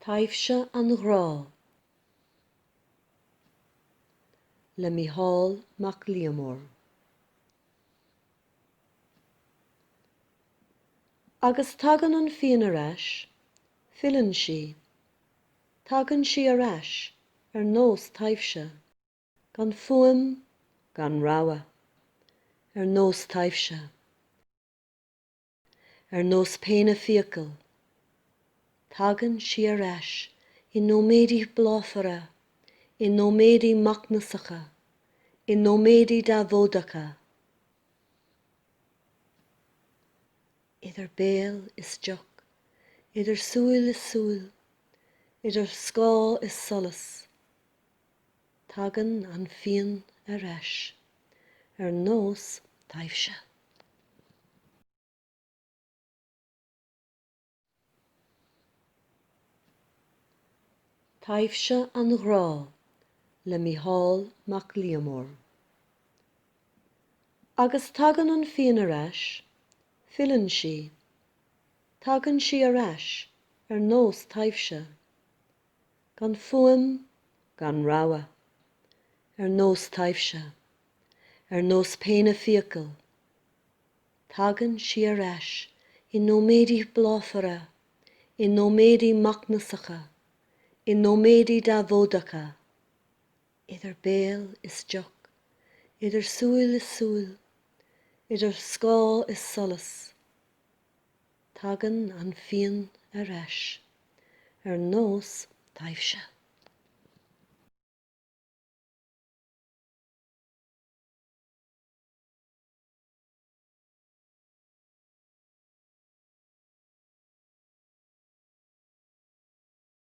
Taibhse an Ghrá le Micheál Mac Liammóir Agus tagann an phian ar ais, filleann sí, tagann sí ar ais ar nós taibhse, gan fuaim gan rabhadh, ar nós taibhse. ar nós péine fiacal. Tagann sí ar ais i nóiméidí bláfara, i nóiméidí macnasacha, i nóiméidí deabhóideacha. Idir béal is deoch, idir súil is súil, idir scáth is solas, Tagann an phian ar ais, ar nós taibhse. Taibhse an Ghrá le Micheál Mac Liammóir. Agus tagann an phian ar ais, filleann sí, tagann sí ar ais ar nós taibhse. gan fuaim, gan rabhadh, ar nós taibhse, ar nós péine fiacal. Tagann sí ar ais i nóiméidí bláfara, i nóiméidí macnasacha, i nóiméidí deabhóideacha. Idir béal is deoch, idir súil is súil, idir scáth is solas. Tagann an phian ar ais. Ar nós taibhse.